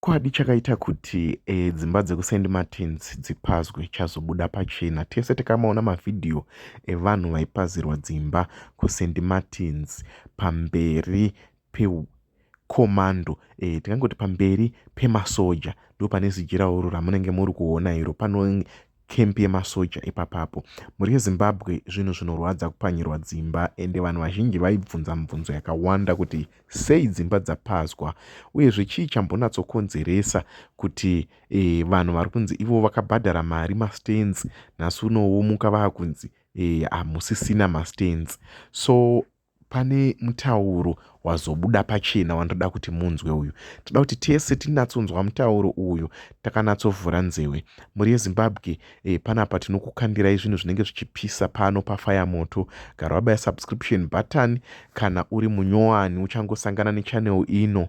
Chokwadi chakaita kuti e, dzimba dzekuSaint Martins dzipazwe chazobuda pachena. Tese takamaona mavhidhiyo evanhu e, vaipazirwa dzimba kuSaint Martins pamberi pekomando e, eh, tingangoti pamberi pemasoja ndo pane zijiraoro ramunenge muri kuona iro pano camp yemasoja ipapapo mhuri yezimbabwe zvinhu zvinorwadza kupwanyirwa dzimba ende vanhu vazhinji vaibvunza mibvunzo yakawanda kuti sei dzimba dzapazwa uyezve chii chambonatsokonzeresa kuti e, vanhu vari kunzi ivo vakabhadhara mari mastands nhasi unowo muka vaakunzi e, hamusisina mastands so Pane mutauro wazobuda pachena wandinoda kuti munzwe uyu. Tinoda kuti tese tinatsonzwa mutauro uyu takanatsovhura nzewe. Mhuri yeZimbabwe eh, panapa tinokukandirai zvinhu zvinenge zvichipisa pano pafaya moto. Gara wabaya subscription button kana uri munyowani uchangosangana nechannel ino.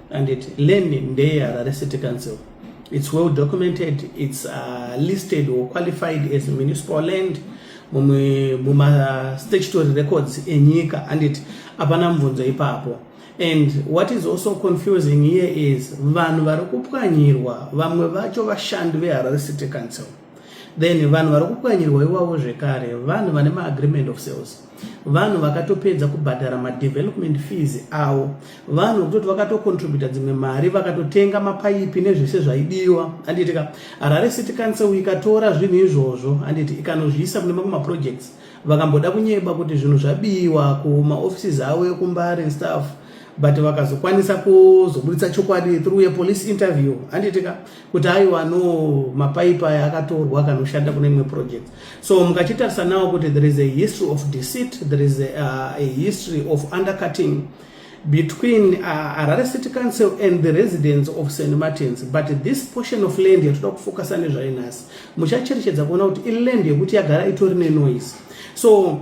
Anditi lane ndeyeHarare City Council. It's well documented, it's uh, listed or qualified as municipal land mumastatutory records enyika anditi hapana mubvunzo ipapo and what is also confusing here is vanhu vari kupwanyirwa vamwe vacho vashandi veharare city council then vanhu vari kupwanyirwa iwavo zvekare vanhu vane maagreement of sales vanhu vakatopedza kubhadhara madevelopment fees avo vanhu vekutoti vakatocontributa dzimwe mari vakatotenga mapaipi nezvese zvaidiwa handiti ka harare city council ikatora zvinhu izvozvo handiti ikanozviisa kune mamwe maprojects vakamboda kunyeba kuti zvinhu zvabiwa kumaoffices avo ekumbari and stuff but vakazokwanisa kuzoburitsa chokwadi through yepolice interview handiti ka kuti aiwa no mapaipi aya akatorwa akanoshanda kune imwe project so mukachitarisa nawo kuti there is a history of deceit there is a, uh, a history of undercutting between uh, Harare City Council and the residents of St. Martins but this portion of land yatoda kufocusa nezvayo nhasi muchacherechedza kuona kuti iland yekuti yagara itori nenoise so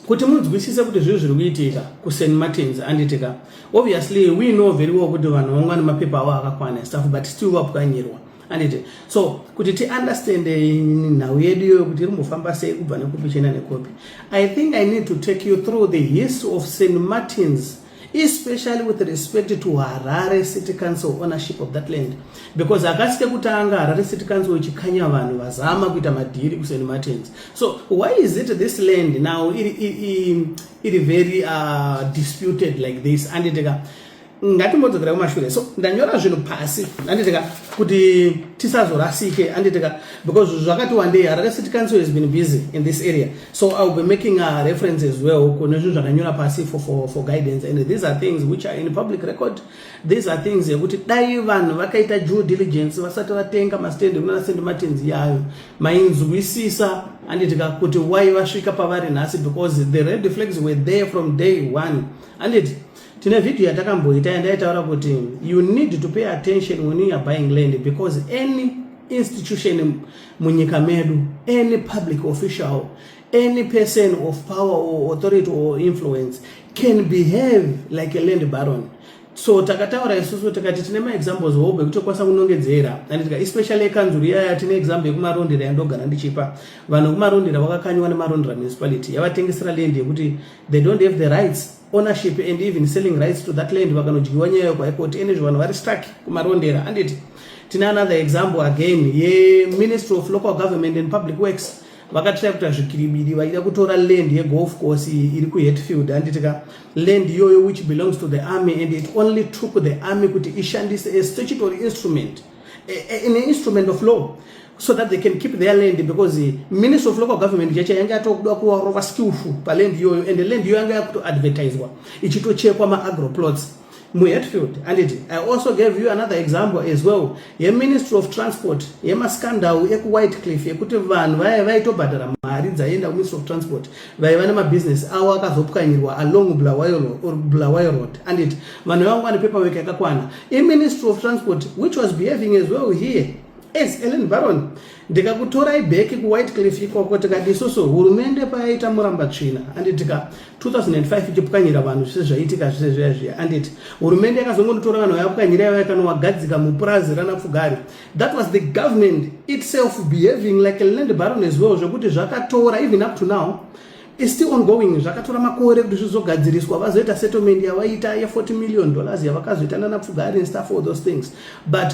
kuti munzwisise kuti zvinhu zviri kuitika kusen martins anditika obviously we know very well kuti vanhu vangwa nemapepa avo akakwana stuff but still vapwanyirwa anditi so kuti tiunderstand eh, nhau yedu iyoyo kuti iri mbofamba sei kubva nekupi chienda nekupi i think i need to take you through the history of st martins especially with respect to harare city council ownership of that land because akasi kekutanga harare city council ichikanya vanhu vazama kuita madhiri kuseni martins so why is it this land now iri, iri, iri very uh, disputed like this anditeka ngatimbodzokera kumashure so ndanyora zvinhu pasi anditeka kuti tisazorasike anditeka because zvakati wandei harare city council has been busy in this area so iwill be making a reference as well kune zvinhu zvakanyora pasi for, for, for guidance and these are things which are in public record these are things yekuti dai vanhu vakaita due diligence vasati vatenga mastendi kunana sendi matenzi yayo mainzwisisa anditika kuti why vasvika pavari nhasi because the red flags were there from day one anditi tine video yatakamboita yandaitaura kuti you need to pay attention when you are buying land because any institution munyika medu any public official any person of power or authority or influence can behave like a land baron so takataura isusu tikati tine maexamples hobe kuti okwanisa kunongedzera anditika especially ekanzuru iyaya tine example yekumarondera yandogara ndichipa vanhu vekumarondera vakakanyiwa nemarondera municipality yavatengesera land yekuti they don't have the rights ownership and even selling rights to that land vakanodyiwa nyaya yo kuhigh court ene zvivanhu vari stuck kumarondera handiti tine another example again yeministry of local government and public works vakatira kuita zvikiribidi vaida kutora land yegolf course iri kuhetfield handiti ka land iyoyo which belongs to the army and it only took the army kuti ishandise a statutory instrument an instrument of law so that they can keep their land because the minister of local government chacha yanga yatokuda kuvarova skillful paland iyoyo and the land iyoyo yanga yakutoadvertiswa ichitochekwa maagro plots muhetfield anditi i also gave you another example as well yeministry of transport yemascandal ekuwhite cliff yekuti vanhu vaya vaitobhadhara mari dzaienda kuministry of transport vaiva nemabusiness avo akazopwanyirwa along bulawayo road anditi vanhu vavanga vane paperwork yakakwana iministry of transport which was behaving as well here Yes, Ellen Baron, ndikakutorai bheki kuWhitecliff ikoko tikati isusu hurumende payaita muramba tsvina anditika 2005 ichipwanyira vanhu zvese zvaiitika zvese zviya zviya anditi hurumende yakazongonditora vanhu vayapwanyira yavo yakanowagadzika mupurazi ranapfugari that was the government itself behaving like a land baron as well zvekuti zvakatora even up to now is still ongoing zvakatora makore kuti zvizogadziriswa vazoita settlement yavaiita ye 40 million dollars yavakazoita nanapfugari and stuff all those things but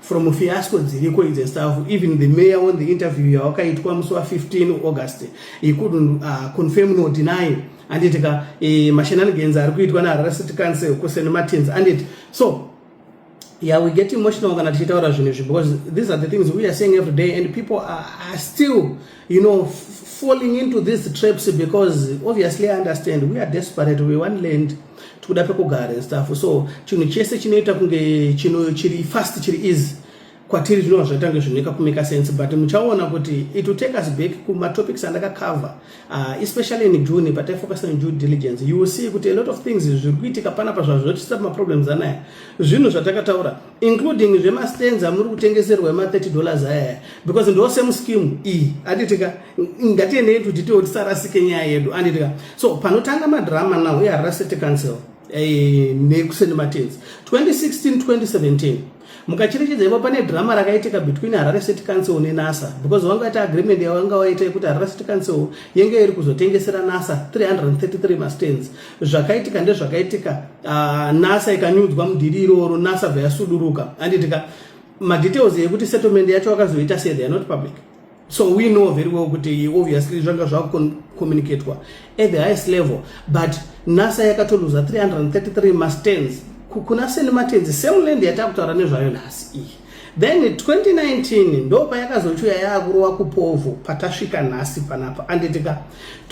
from fiasco dziriko idzi staff even the mayor on the interview yawakaitwa musi wa 15 august he couldn't uh, confirm nor deny anditi ka e, mashenanigans ari kuitwa neharare city council kusen martins anditi so yeah we get emotional kana tichitaura zvinhu izvi because these are the things we are saying every day and people are, are still you know falling into these traps because obviously i understand we are desperate we want land tikuda pekugara and stuff so chinhu chese chinoita kunge chino chiri fast chiri easy kwatiri zvinova zvaita kunge zvinoita kumeka sense but muchaona kuti it will take us back kumatopics andakacover uh, especially in june but ifocus on due diligence you will see kuti a lot of things zviri kuitika panapa zvazvo zvotiisa pamaproblems anaya zvinhu zvatakataura including zvema stands amuri kutengeserwa ema 30 dollars aya because ndo same scheme iyi anditika ngatiendei to detail tisarasike nyaya yedu anditika so panotanga madrama now we are rusted council eh, nekuseni matenzi 2016 2017 mukacherechedza ivo pane drama rakaitika between harare city council nenasa because vanga vaita agreement yavanga vaita yekuti harare city council yenge iri kuzotengesera nasa 333 mastands zvakaitika ndezvakaitika uh, nasa ikanyudzwa mudhiri iroro nasa vayasuduruka anditika madetails yekuti settlement yacho vakazoita se they are not public so we know very well kuti obviously zvanga zvakucommunicatwa at the highest level but nasa yakatoluza 333 mastens kuna seni matenzi same land yatakutaura nezvayo nhasi iyi Then 2019 ndo payakazochuya yakurowa kupovo patasvika nhasi panapa anditika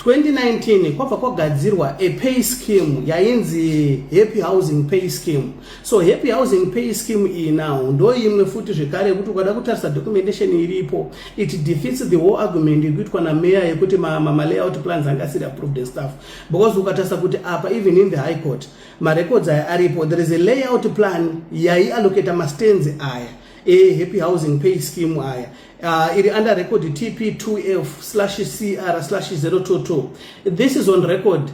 2019 kwabva kwagadzirwa a pay scheme yainzi happy housing pay scheme so happy housing pay scheme iyi now ndo imwe futi zvekare yekuti ukada kutarisa documentation iripo it defeats the whole argument yekuitwa nameya yekuti malayout ma, ma plans angasiri approved and stuff because ukatarisa kuti apa even in the high court marecords aya aripo there is a layout plan yaiallocata mastands aya ehappy housing pay scheme aya uh, iri under record tp2f slash cr slash 022 this is on record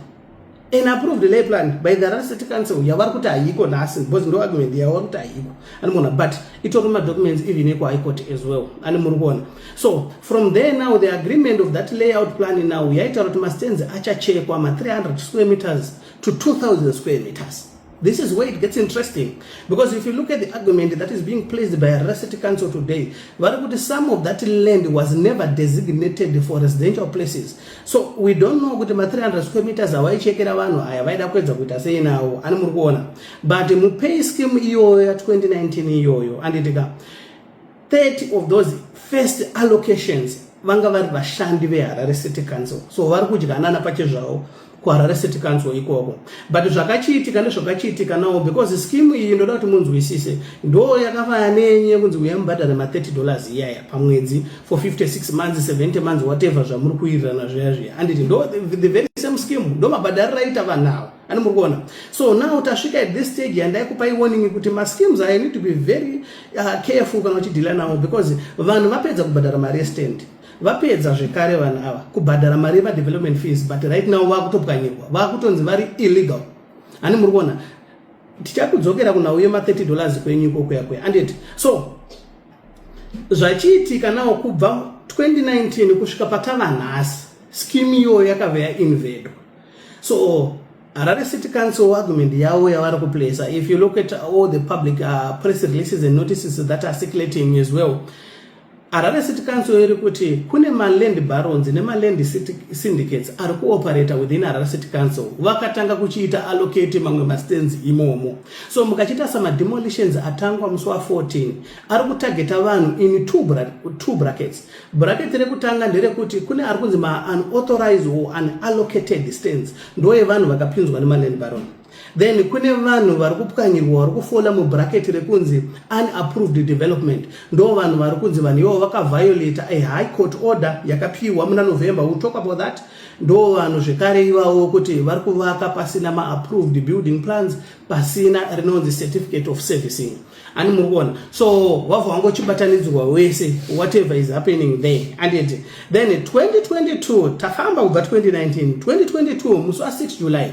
an approved lay plan by the Harare City Council yavari kuti haiko nhasi because ndo argument yavari kuti haiko animoona but itori madocuments even eko high court as well ani muri kuona so from there now the agreement of that layout plan now yaitaura kuti mastands achachekwa ma300 square meters to 2000 square meters This is where it gets interesting because if you look at the argument that is being placed by Harare City Council today, Varakuti, some of that land was never designated for residential places. So we don't know kuti ma 300 square meters awaichekera vanhu aya vaida kuedza kuita sei nawo ani muri kuona but mupay scheme iyoyo ya 2019 iyoyo anditika 30 of those first allocations vanga vari vashandi veharare city council so vari kudyanana pachezvavo kuharare city council ikoko but zvakachiitika nezvakachiitika nawo because skimu iyi ndoda kuti munzwisise ndo yakavaya nenye kunzi uya mubhadhare ma30 dollars iyaya pamwedzi for 56 months 70 months whatever zvamuri kuirirana zviya zviya anditi ndo the very same skimu ndo mabhadhariro aita vanhu ava ani muri kuona so now tasvika at this stage yandaikupai warning kuti maskims aya need to be very Ah, careful kana uchidhila navo because vanhu vapedza kubhadhara mari yestand vapedza zvekare vanhu ava kubhadhara mari yevadevelopment fees but right now vakutopwanyirwa vakutonzi vari illegal ani muri kuona tichakudzokera kunhau yema 30 dollars kwenyu iko kuya kuya anditi so zvachiitika nawo kubva 2019 kusvika patava nhasi skimu iyoyo yakave yainvedwa so Harare City Council argument yavo yavari kuplacer if you look at all the public uh, press releases and notices that are circulating as well Harare City Council iri kuti kune maland barons nemaland syndicates ari kuoperata within Harare City Council vakatanga kuchiita allocate mamwe mastands imomo so mukachiita sama demolitions atangwa musi wa 14 ari kutargeta vanhu in two, bra two brackets Bhuraketi rekutanga nderekuti kune ari kunzi maunauthorized or unallocated stands ndoye vanhu vakapinzwa nemaland baron then kune vanhu vari kupwanyirwa vari kufola mubhuraketi rekunzi unapproved development ndo vanhu vari kunzi vanhu ivo vakaviolata a high court order yakapiwa muna november will talk about that ndo vanhu zvekare ivawo kuti vari kuvaka pasina maapproved building plans pasina rinonzi certificate of servicing ani muri kuona so wava wangu uchibatanidzirwa wese whatever is happening there anditi then 2022 tafamba kubva 2019 2022 musi wa 6 july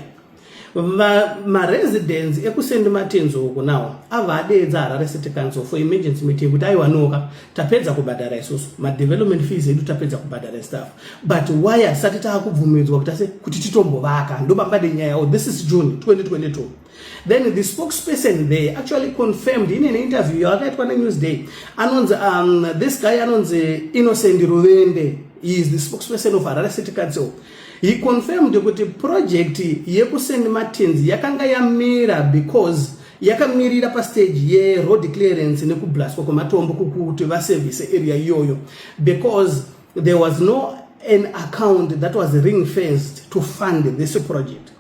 maresidence ekusendi matenzo uku nawo ava adeedza harare city council for emergency meeting kuti aiwanoka tapedza kubhadhara isusu madevelopment fees edu tapedza kubhadhara staff but why hatisati taakubvumidzwa kuti ase kuti titombovaka ndobambade nyaya o oh, this is june 2022 then the spokesperson there actually confirmed in an interview yavakaitwa nenewsday anonzi um, this guy anonzi innocent ruvende he is the spokesperson of harare city council he confirmed kuti project yekusend martins yakanga yamira because yakamirira pastage yeroad clearance nekublaswa kwematombo kuti vaservice area iyoyo because there was no an account that was ring fenced to fund this project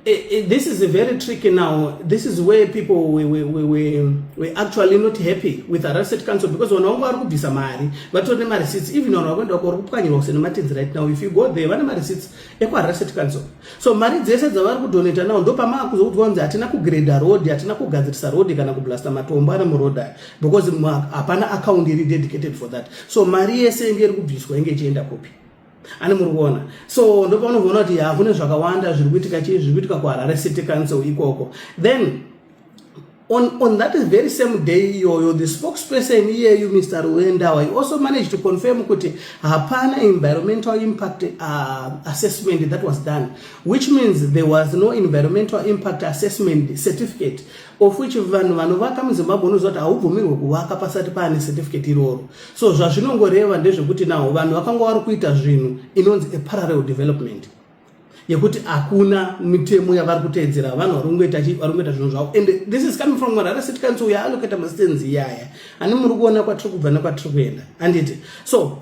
Eh, eh, this is very tricky now. This is where people were, were, were, were actually not happy with arrested council because vanhu vangu vari kubvisa mari vatori nemareceipts even vanhu vakuenda kwari kupwanyirwa kusene matenzi right now if you go there vane mareceipts ekuarrested council so mari dzese dzavari kudonata now ndo pamaa kuzoudzwa kunzi hatina kugreda road hatina kugadzirisa road kana kublasta matombo ari muroad aya because hapana account iri dedicated for that so mari yese inge iri kubviswa inge ichienda kupi ani muri kuona so ndopaunoona kuti ya kune zvakawanda zviri kuitika chii zviri kuitika kuharare city council ikoko then on, on that very same day iyoyo the spokesperson iyeyu mr ruendawa he also managed to confirm kuti hapana environmental impact uh, assessment that was done which means there was no environmental impact assessment certificate of which vanhu vanovaka muzimbabwe unoziva kuti haubvumirwe kuvaka pasati paane certificate iroro so zvazvinongoreva ndezvekuti naho vanhu vakanga vari kuita zvinhu inonzi a parallel development yekuti hakuna mitemo yavari kuteedzera vanhu vari kungoita vari kungoita zvinhu zvavo and this is coming from marara city council yaaloketa masitenzi iyaya ani muri kuona kwatiri kubva nekwatiri kuenda handiti so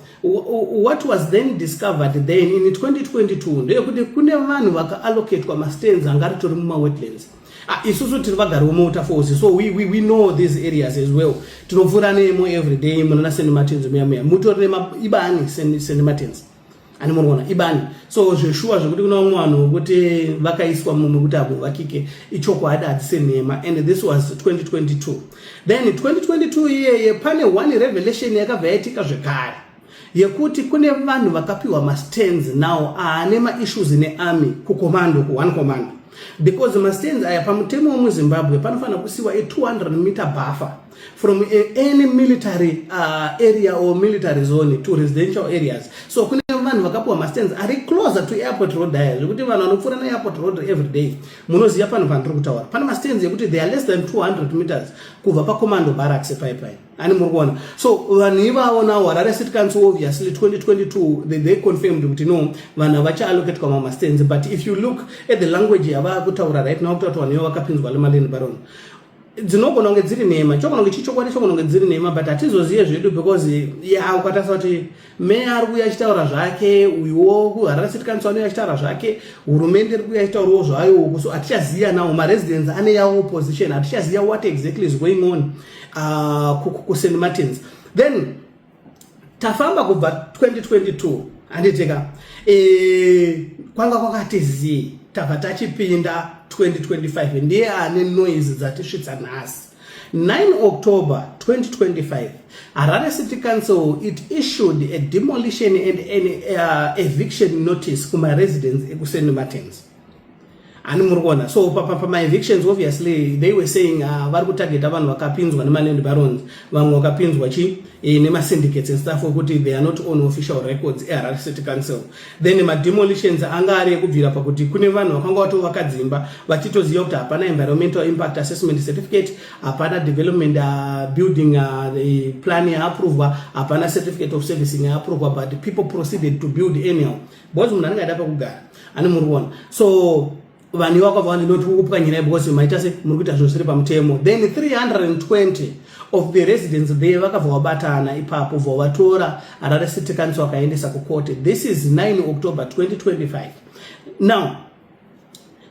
what was then discovered then in 2022 ndeyekuti kune vanhu vakaallocatwa masitenzi anga ritori mumawetlands Ah, isusu tiri vagari vomota force so we, we, we know these areas as well tinopfuura nemo every day munana st martins muya muya mutori neibani st martins ani murikuona ibani so zveshuwa zvekuti kuna vamwe vanhu vokuti vakaiswa muno kuti havovakike ichokwadi hadzise nhema and this was 2022 then 2022 iyeye pane one revelation yakabva yaitika zvekare yekuti kune vanhu vakapiwa mastands now aane maissues nearmy kukomando kuone commando because mastands aya pamutemo wemuzimbabwe panofanira kusiwa e200 meter buffer from any military uh, area or military zone to residential areas so kune vanhu vakapiwa mastands ari closer to airport road aya zvekuti vanhu vanopfuura neairport road every day munoziva pano pandiri kutaura pane mastands ekuti they are less than 200 meters kubva pacommando barracks paipai ani muri kuona so vanhu ivavo now harare city council obviously 2022 they, they confirmed kuti no vanhu havachaaloketwa mamastands but if you look at the language yavaa kutaura right now kutati vanhu ivo vakapinzwa lemaleni baron dzinogona kunge dziri nhema chokononge chichokwadi chokononge dziri nhema but hatizozive zvedu because ya ukatarisa kuti meya ari kuuya achitaura zvake uyuwo kuharare city council anouya achitaura zvake hurumende iri kuuya achitaurawo zvayowo so hatichaziva nawo maresidents ane yawo opposition hatichaziva what exactly is going on uh, kusaint martins then tafamba kubva 2022 handiteka e, eh, kwanga kwakati zii tabva tachipinda 2025 ndiye ane noise dzatisvitsa nhasi 9 October 2025, Harare City Council it issued a demolition and an uh, eviction notice kuma residents ekuseni Martins. Ani muri kuona so papa pama evictions obviously they were saying uh, vari kutargeta vanhu vakapinzwa nema land barons vamwe vakapinzwa chi eh, nema syndicates and stuff wekuti they are not on official records eHarare City Council then mademolitions anga ari ekubvira pakuti kune vanhu vakanga vatovaka dzimba vachitoziva kuti hapana environmental impact assessment certificate hapana development uh, building uh, plan yaaprovwa hapana certificate of servicing yaaprovwa but people proceeded to build anyhow because munhu anenge aida pakugara ani muri kuona so vanhu ivako vavanenoti kukupwanyira because maita se muri kuita zvinhu zviri pamutemo then 320 of the residents there vakabva vabatana ipapo bva vatora harare city council vakaendesa kukote this is 9 october 2025 now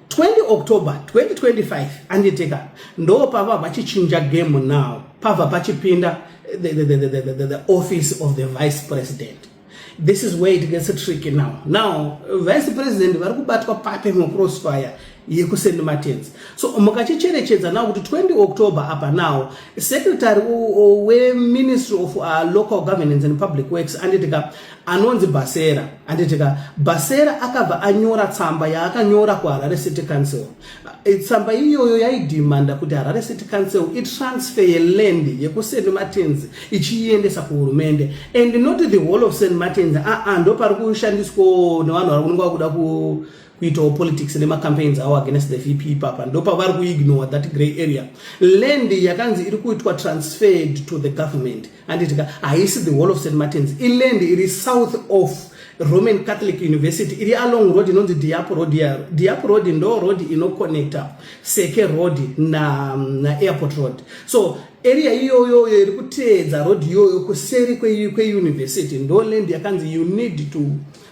20 october 2025 anditeka ndo pava vachichinja game now pava pachipinda the, the, the, the, the, the office of the vice president This is where it gets tricky now. Now, vice president vari kubatwa papi mucrossfire yekusend matenzi. So mukachicherechedza now kuti 20 October apa now secretary weministry of uh, local governance and public works anditika anonzi Basera anditika Basera akabva anyora tsamba yaakanyora kuHarare City Council Eh, tsamba iyoyo yaidhimanda kuti harare city council itransfer yeland yekust martins ichiiendesa kuhurumende and not the whole of st martins aa ah, ah, ndo pari kushandiswawo nevanhu vari kunenge vakuda kuitawo politics nemacampaigns awo against the vp ipapa ndo pavari kuignore that grey area land yakanzi iri kuitwa transferred to the government handiti ka haisi the wall of st martins iland iri south of roman catholic university iri along road inonzi diap road yaro diap road ndo road inoconnecta seke road naairport na road so area iyoyoyo iri kuteedza road iyoyo kuseri kweuniversity ndo land yakanzi you need to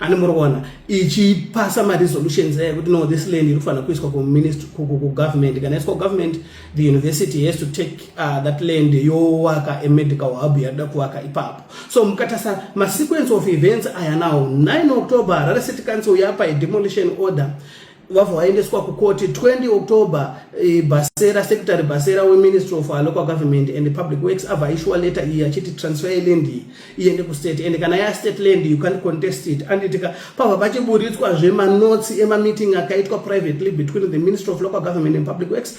ani muri kuona ichipasa maresolutions ayo kuti no this land inofanira kuiswa kugovernment kana iswa kugovernment the university has to take uh, that land yowaka amedical hub yaida kuvaka ipapo so mukatasa masequence of events aya now 9 october rari city council yapa idemolition order vabva vaendeswa kukoti 20 october eh, basera secretary basera weministry of our local government and public works abva aishuwa letter iyi achiti transfer yeland iyi iende kustate and kana yastate land you can't contest it anditika pabva pachiburitswa zvemaNotes emameeting akaitwa privately between the ministry of local government and public works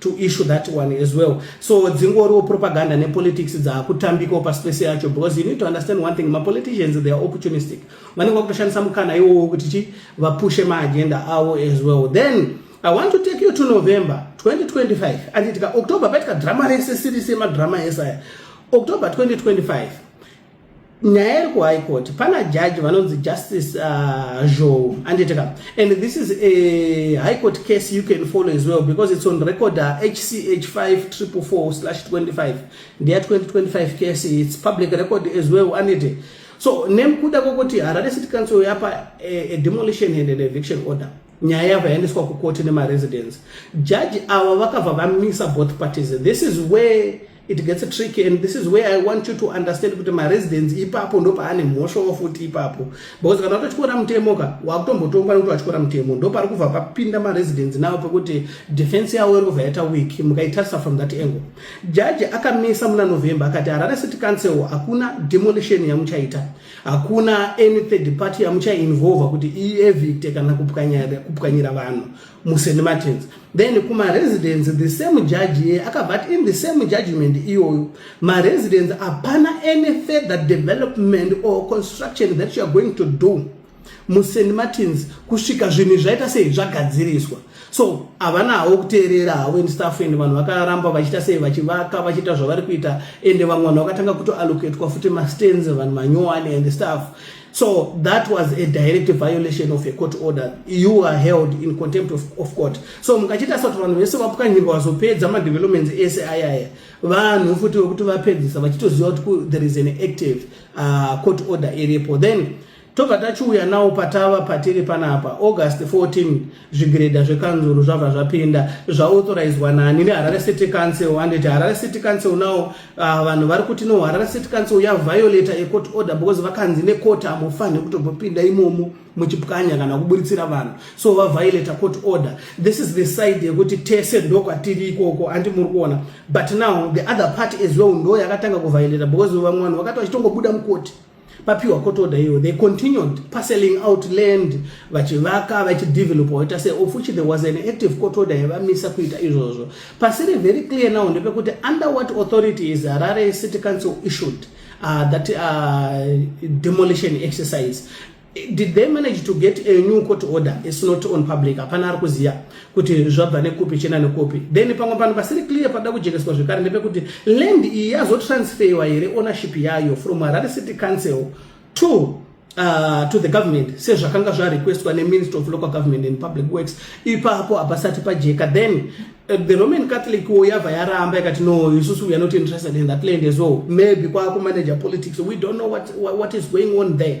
to issue that one as well so dzingoriwo propaganda nepolitics dzaakutambikawo pasi pese yacho because you need to understand one thing mapoliticians they are opportunistic vanenge vakutoshandisa mukana iwowo kuti chi vapushe maagenda avo as well then i want to take you to november 2025 anditika october paitika drama rese siri semadrama ese aya october 2025 nyaya iri kuhigh court pana jaji vanonzi justice uh, zhou anditeka and this is a high court case you can follow as well because it's on record uh, hch 5444/25 ndeya 2025 case it's public record as well andite so nekuda kwokuti harare city council yapa a, a demolition and an eviction order nyaya yava yaendeswa kukoti nemaresidence jaji ava vakabva vamisa both parties this is where it gets tricky and this is where i want you to understand kuti maresidence ipapo ndopaane mhosvawo futi ipapo because kana watotyora mutemo ka wakutombotongwa nekuti watyora mutemo ndopari kubva papinda maresidence nawo pekuti defense yawo iri kubva yaita week mukaitarisa from that angle jaji akamisa muna november akati harare city council hakuna demolition yamuchaita hakuna any third party yamuchainvolva kuti ievicte kana kupwanyira vanhu muSt Martins then kumaresidence the same judge iye akabva ati in the same judgment iyoyo maresidence hapana any further development or construction that you are going to do muSt Martins kusvika zvinhu izvaita sei zvagadziriswa so havana havo kuteerera havo in staff and vanhu vakaramba vachiita sei vachivaka vachiita zvavari kuita ende vamwe vanhu vakatanga kutoallocatwa futi mastands vanhu manyowani and staff So that was a direct violation of a court order. You are held in contempt of, of court. So mukachita soti vanhu vese vapwanyirwa vazopedza madevelopments ese ayaya vanhu futi vekuti vapedzisa vachitoziva kuti there is an active uh, court order iripo then tobva tachiuya nawo patava patiri panapa august 14 zvigiredha zvekanzuru zvabva zvapinda zvaauthorizewa nani neharare city council handiti harare city council now ah, vanhu vari kuti no harare city council yaviolata ecourt order because vakanzi necourt hamufanhe kutobopinda imomo muchipwanya kana kuburitsira vanhu so vaviolata court order this is the side yekuti tese ndokwatiri ikoko andi muri kuona but now the other party as well ndo yakatanga kuviolata because vamwe vanhu vakati vachitongobuda mukoti papiwa court order iyoyo they continued parceling out land vachivaka vachidevelopa waita se of which there was an active court order yavamisa kuita izvozvo pasiri very clear now ndepekuti under what authority is harare city council issued uh, that uh, demolition exercise did they manage to get a new court order is not on public hapana ari kuziva kuti zvabva nekupi chena nekupi then pamwe panhu pasiri clear pakuda kujekeswa zvekare ndepekuti land iyi yazotransferiwa here ownership yayo from harare city council to Uh, to the government sezvakanga zvarequestwa neminister of local government and public works ipapo hapasati pajeka then uh, the roman catholic wo yabva yaramba ikati no isusu we are not interested in that land as well maybe kwakumanager politics we don't know what, what is going on there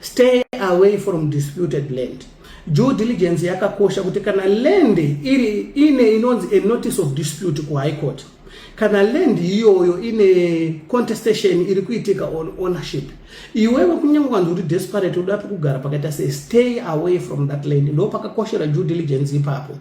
Stay away from disputed land. Due diligence yakakosha kuti kana land iri ine inonzi a notice of dispute ku high court kana land iyoyo ine contestation iri kuitika on ownership iwewe kunyange kwanzi uri desperate uda pekugara pakaita sei stay away from that land ndo pakakoshera due diligence ipapo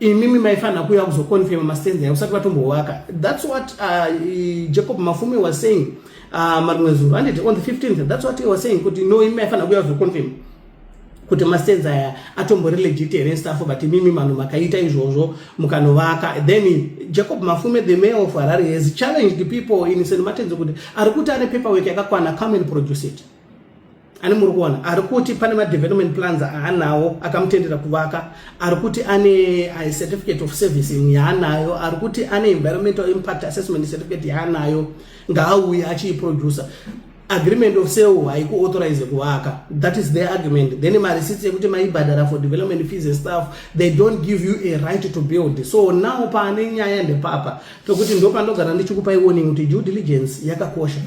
imimi maifanira kuuya kuzoconfirma mastenzi ayo usati vatombohwaka thats what uh, jacob mafume was saying uh, marimwe zuro anditi on the 15th thats what he was saying kuti no imi maifanira kuuya kuzoconfirma kuti mastenzi aya atombori legit here staff but imimi vanhu makaita izvozvo mukanovaka then jacob mafume the mayor of harare has challenged people in st martins kuti ari kuti ane paperwork yakakwana come and produce it ani muri kuona ari kuti pane madevelopment plans aanawo akamutendera kuvaka ari kuti ane uh, certificate of servicing yaanayo ari kuti ane environmental impact assessment certificate yaanayo ngaauye achiiproducer agreement of sale haikuauthorize kuvaka that is their argument then marisitsi yekuti maibhadhara for development fees and stuff they don't give you a right to build so now paane nyaya ndepapa pekuti ndopanogara ndichikupai warning kuti due diligence yakakosha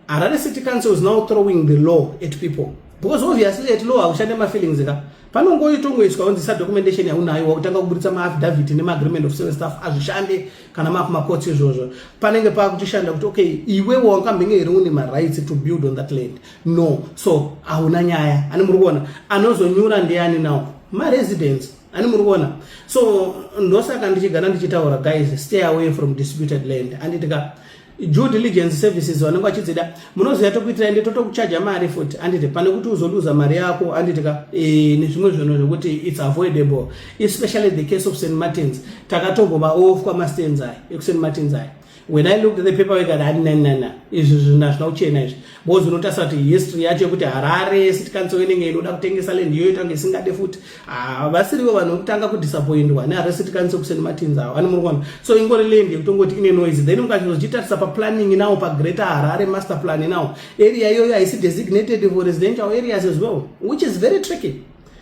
Harare City Council is now throwing the law at people because obviously at law haushande mafeelings ka panongoitongoiswa onzi sa documentation yaunayo wakutanga kuburitsa maafidavhiti nemaagreement of service staff azvishande kana maaku makotsi izvozvo panenge paakuchishanda kuti okay iwe wakambenge here une marights to build on that land no so hauna nyaya ani muri kuona anozonyura ndiani now maresidents ani muri kuona so ndosaka ndichigana ndichitaura guys stay away from disputed land anditika due diligence services vanenge vachidzida munoziva tokuitirai ndi totokuchaja mari futi anditi pane kuti uzoluza mari yako anditi ka e, nezvimwe zvinhu zvekuti its avoidable especially the case of st martins takatombovaofwa mastands ayi ekust martins ayi when i looked at the paper work at haninanana izvi zvinhu hazvina kuchena izvi bozi unotarisa kuti history yacho yekuti harare city council inenge inoda kutengesa land iyoyo tange isingade futi ah, vasirivo vanhu vekutanga kudisappointwa neharare city council kuseni matinza avo vane murikuona so ingori land yekutongoti ine noise then mukachizochitarisa paplanning nawo pagreater harare master plan nawo area iyoyo haisi designated for residential areas as well which is very tricky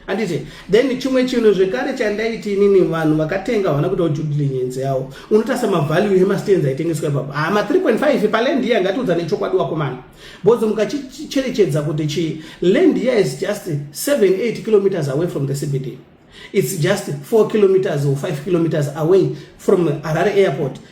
handiti then chimwe chinhu zvekare chandaiti inini vanhu vakatenga havana kutawo judilinyenzi yawo unotasa mavalue emastenzi aitengeswa ipapa ha ah, ma 3.5 palendi iya ngatiudza nechokwadi wakomana bhodzo mukachicherechedza kuti chi lendi iya is just 78 kilometers away from the cbd it's just 4 kilometers or 5 kilometers away from harare airport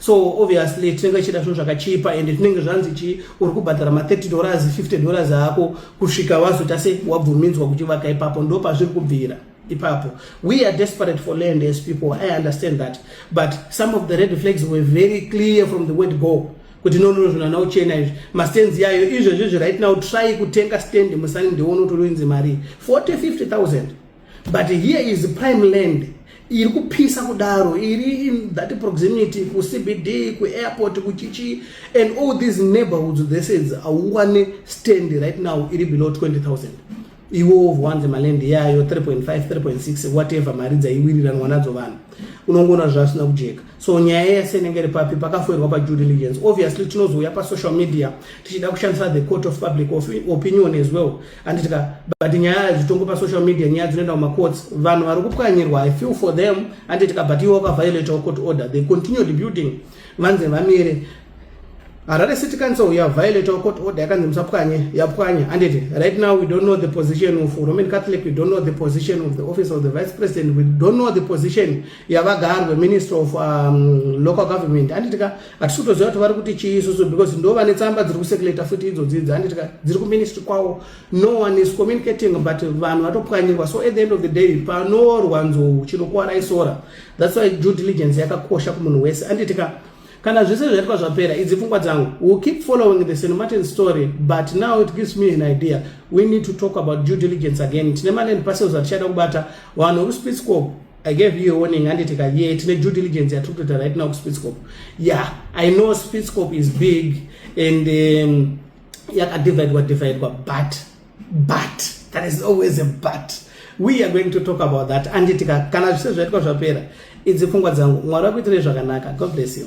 so obviously tinenge tichida zvinhu zvakachipa and tinenge zvanzi chi uri kubhadhara ma30 dollars 50 dollars ako kusvika wazoita se wabvumidzwa kuti vaka ipapo ndo pazviri kubvira ipapo we are desperate for land as people i understand that but some of the red flags were very clear from the word go kuti nonono zvinhu ana uchena izvi mastands yayo izvozvizvi right now try kutenga stand musani ndione utori wenzi mari 40 50 000 but here is prime land iri kupisa kudaro iri in that proximity kucbd kuairport kuchichi and all these neighborhoods theseds auwane stand right now iri below 20000 iwo wanze malend yayo 3.5 3.6 whatever mari dzaiwiriranwa nadzo vanhu unongoona zvasina kujeka so nyaya yese inenge iri papi pakafoirwa padue diligence obviously tinozouya pasocial media tichida kushandisa the court of public opinion as well handiti ka but nyaya zvitongo pasocial media nyaya dzinoenda kumacourts vanhu vari kupwanyirwa i feel for them handiti ka but iwe wakaviolatawo court order they continued building vanze vamire harare city council yaviolatawo court order yakanzi musapwanye yapwanya handiti right now we don't know the position of roman catholic we don't know the position of the office of the vice president we don't know the position yavagarwe minister of um, local government handiti ka hatisi kutoziva kuti vari kuti chii isusu because ndo vane tsamba dziri kusekuleta futi idzodzi idzi handiti ka dziri kuministry kwawo no one is communicating but vanhu vatopwanyirwa so at the end of the day panoorwa nzou chinokuvara isora thats why due diligence yakakosha kumunhu wese handiti ka kana zvese zvaitwa zvapera idzi pfungwa dzangu will keep following the st martin story but now it gives me an idea we need to talk about due diligence again tine maland parcels atichada kubata vanhu vekuspitscop I gave you a warning handiti ka yeah tine due diligence yatiri kutoita right now kuSpitzkop yeah I know Spitzkop is big and um, yakadividwa dividwa but but that is always a but we are going to talk about that handiti ka kana zvise zvaitwa zvapera idzi pfungwa dzangu mwari wakuitirei zvakanaka god bless you